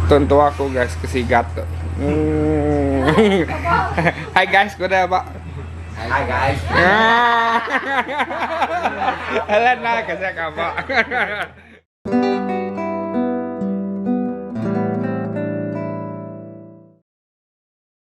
Tentua aku guys ke sigat tu. Hai guys ku dah ba. Hai guys. Alah nak ke sak apa.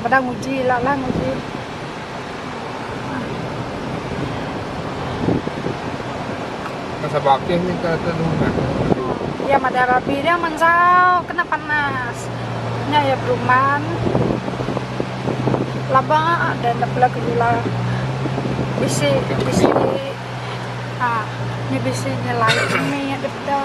Beda nguji ila lah nguji. Kan Sabah Akeh mih ka atu anu meh ka atu anu. Iya madai rabi dia mensau kena panas. Nya iya beruman. Laba deh nda bela gejula. Bisi bisi aaa nya bisi nya lain nya dep da.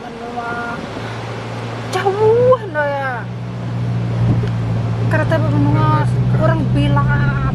Menua jauh enda iya. Kada tahu menua orang bilat.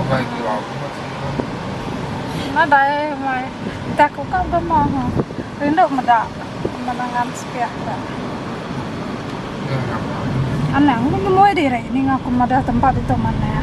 Ukai ti lalu meh ti ira. Nadai meh ti aku ka bema ha. Rindu meda menengan sepiak ka. Nyau nya meh. Anang meh ngemoi diri ninga ku madah tempat ditu manah.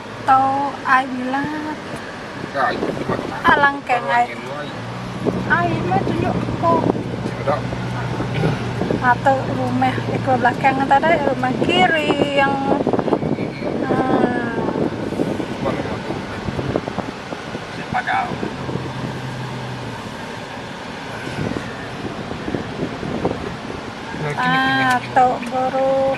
Tau ai milat. Alangkang ai. Ai meh tunjuk ko. Atu rumah iko belakang tadi rumah kiri yang Atu buruk.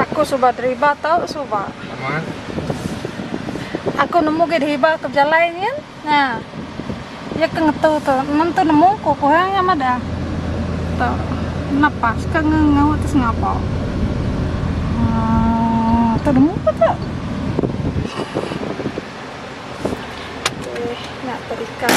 Aku suba deriba tau suba. Amat. Aku nemu gih deriba ke bejalai nyin. Nya. Iya ke ngetu tu. Nemu tu nemu ku ku ha nya madah. Tu. Napas ke nge nge tu sengapa. Hmm. Tu nemu ku tu. Eh, nak terika.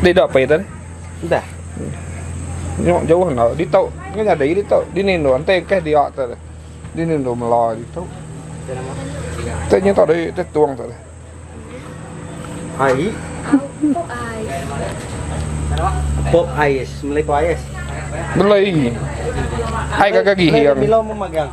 Di dah pai tan? Dah. Nyok jauh na di tau ngai nyadai di tau. Di ni ndo antai kah dia ta. Di ni ndo mela di tau. Te nyi tau dai te tuang ta. Ai. Pop ai. Pop ais, melai pop ais. Belai. Hai kagak gigi. Belai milo memagang.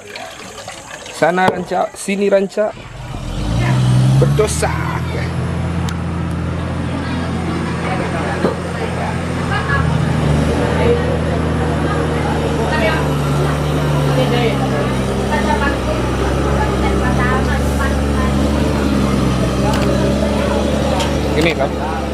Sana rancak, sini rancak. Berdosa aku. Ini kah?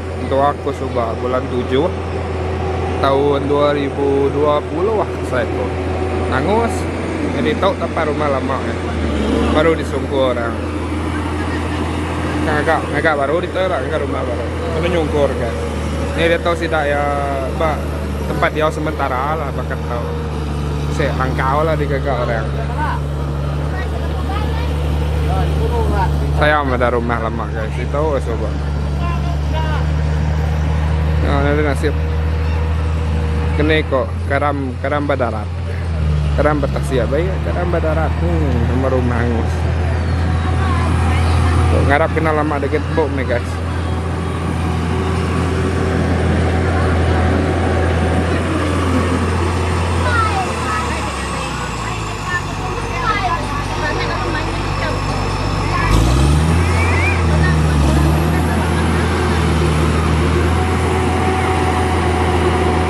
Mentua aku suba bulan tujuh taun dua ribu dua puluh ah asai aku angus nyadi tau tapai rumah lama eh baru di sungkur orang ngaga ngaga baru ditu ira ngaga rumah baru kena nyungkur ka nya dia tau sida iya ba tempat diau sementara lah baka tau se langkau lah digaga orang sayang meda rumah lama. Jangan si tau lah soba. Nah, ada nasib. Kene ko karam karam badarat. Karam betasia bai karam badarat. Hmm, nama rumah angus. Kok ngarap kena lama dekat bom ni guys.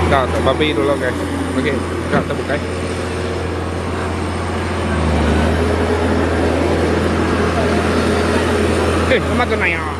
Kak, babi dulu guys. Okey, kak tak bukai. Eh, sama tu naya.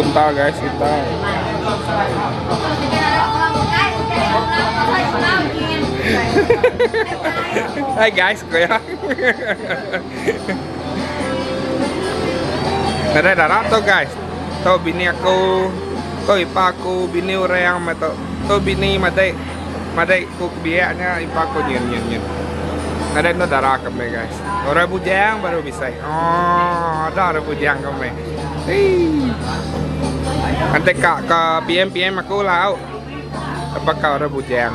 Unta guys, unta. Hai guys, kaya. Ada darah tu guys. Tu bini aku, tu ipa aku, bini orang mata. Tu bini madai, madai ku kebiaknya ipa aku nyen nyen nyen. Ada tu darah kami guys. Orang bujang baru bisa. Oh, ada orang bujang ke meh. Ante ka ke PM PM aku lah. Apa ka orang bujang.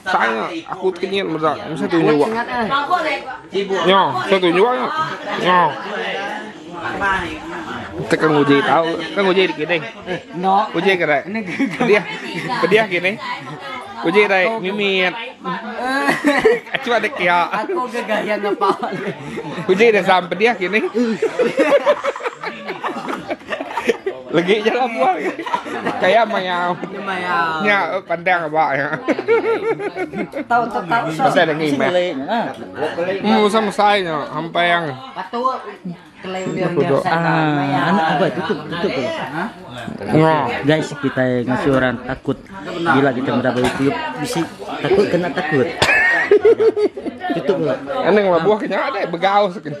Tang aku tekenyit meda nya tu nyuak nya nya tu nyuak nya tu kan uji tau kan uji dikining uji ke dai pedih pedih kining uji dai mimit achu ada kia uji da sam pedih kining. Legit je lah buah ni. Kaya mayau. Nya pandang ba nya. Tau tau tau. Pasal dah ngimah. Hmm, usah mesai nya sampai yang. Patu kelai dia dia sana. Anak apa tutup tutup tu. Ha. Guys, kita ngasi orang takut bila kita berapa YouTube bisi takut kena takut. Tutup lah. Anang lah buah kena ada begau sekena.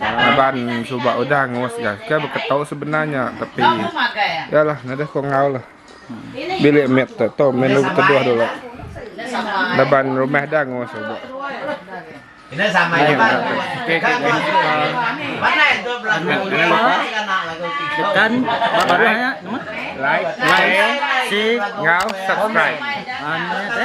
Laban suba udah ngurus ga ke beketau sebenar nya tapi ya lah nadeh ko enggau lah bilik mit tu tu min lu beteduh dulu laban rumah da ngurus suba. Ina sama je bang. Kan kau mana itu belah dulu kan nak lagu tiga. Kan baru hanya nama? Like, like, si, ngau, subscribe. Ane,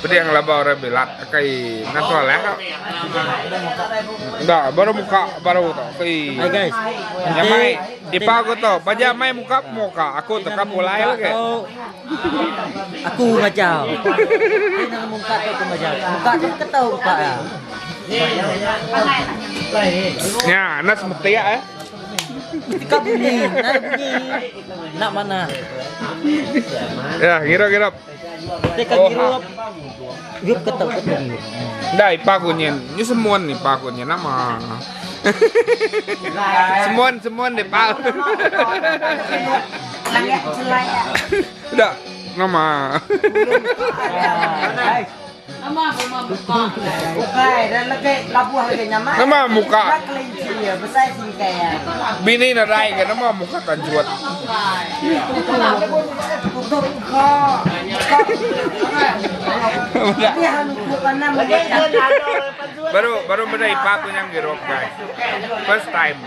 Pedih ngelaba orang bilat kai ngan Soleh tu. Enda baru muka baru tu. Kai. Hai guys. Yang mai dipa aku tu. Baja mai muka pemuka. Aku tu ka pulai lagi. Aku bajau. Nang muka tu aku bajau. Muka tu ketau muka ya. Nya, nas metiak eh. Ka bunyi. Nai bunyi. Nak manah. Ya, ngirup ngirup. Te ka ngirup. Yup ke tau ke tadi. Dah ipa kunyin. Ni semun ni pa kunyin nama. semun semun ni pa. Dah nama. Bini nadai ga nama muka tanjut. Baru baru meda ipar ku nyang girup gai. First time.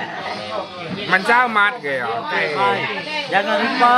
Manca amat ga iya. Jangan lupa.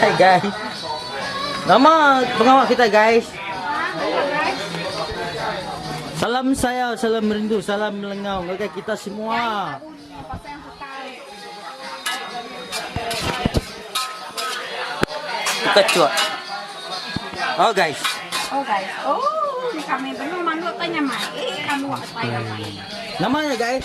Hai guys. Nama pengawa kita guys. Salam sayau, salam merindu, salam melengau ngagai kita semua. Buka cuak. Oh guys. Oh guys. Oh, kami belum manggil tanya mai. Eh, kamu apa yang mai? Namanya guys.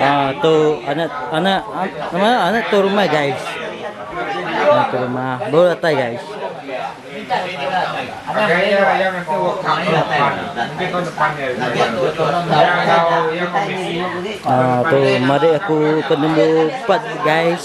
Aaa tu anak anak nama anak tu rumah guys. Anak tu rumah baru datai guys. Aaa tu madik aku ke number empat guys.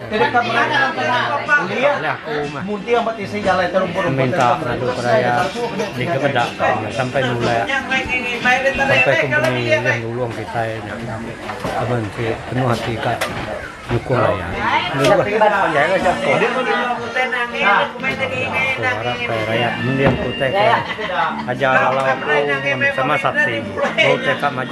Tedeka beraya kuliah munti amba tisi jalai terumput rumput minta pengadu ke raya dikemeda ka sampai nulak sampai kompeni ulih nulung kitai laban enti penuh ati ka nyukung raya rayat mending ku utai ke aja lalau aku sama sakti bau utai ka maju.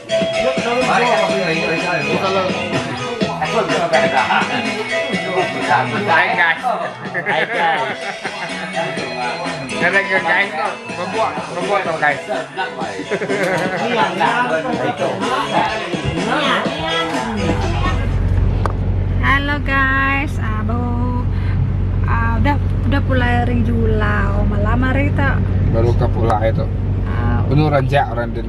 Hello guys ah baru ah udah udah pulai ari julau malam hari tu. Baru ka pulai tu. Penuh ranjak orang din.